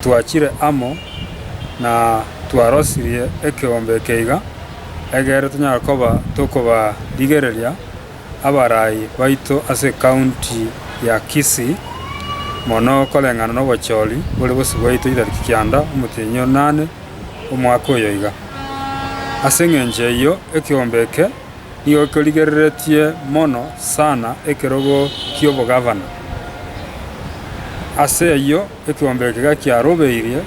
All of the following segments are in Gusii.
Twachire amo, na twarosirie ekeombe eke iga, egere tonyare koba tokobarigereria abarai baito ase County ya Kisii, mono koreng'ana nobochori bore bosio bwaito chitariki kianda omotenyi o nane omwaka oyo iga. Ase engencho eyio ekeombe eke nigo gekorigereretie mono sana ekerogo ki'obogavana. Ase eyio. Ekeombe eke gakiarobeirie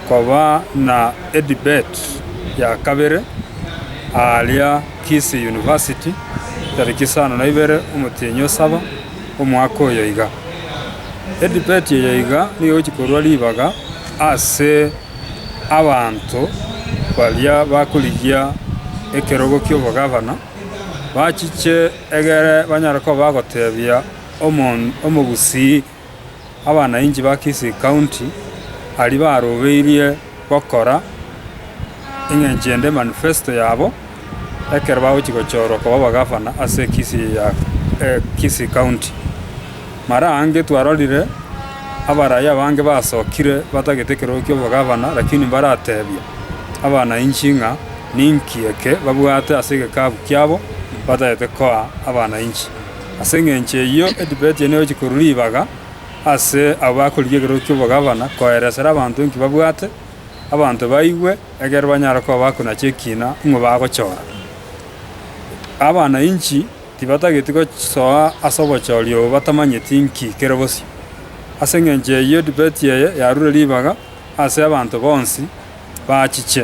koba na edebate ya kabere aaria Kisii University tariki isano na ibere omotienyi o saba omwaka oyo iga. Edebate eye iga nigo egochia korua ribaga ase abanto baria bakorigia ekerogo ki'obogavana bachiche egere banyare koba bagotebia omo omogusii. abanainchi ba Kisii County aria barobeirie gokora eng'encho ende manifesto yabo ekero bagochia gochorwa koba abagavana ase Kisii County. Mara ange twarorire abaraia abange basokire batagete ekerogo kia obogavana lakini mbaratebia abanainchi ng'a ninki eke babwate ase egekabu kiabo batagete koa abanainchi. Ase engencho eyio Etibeti eye negochia korua ribaga ase abwo akorigia ekerogo ki'obogabana, koeresera abanto enki babwate, abanto baigwe, ekiagera banyare koba bakonacha ekiina ng'o bagochora. Abananchi tibatageti gosoa ase obochori obo batamanyeti inki kere bosio. Ase engencho eyio Etibeti eye yarure ribaga ase abanto bonsi bachiche.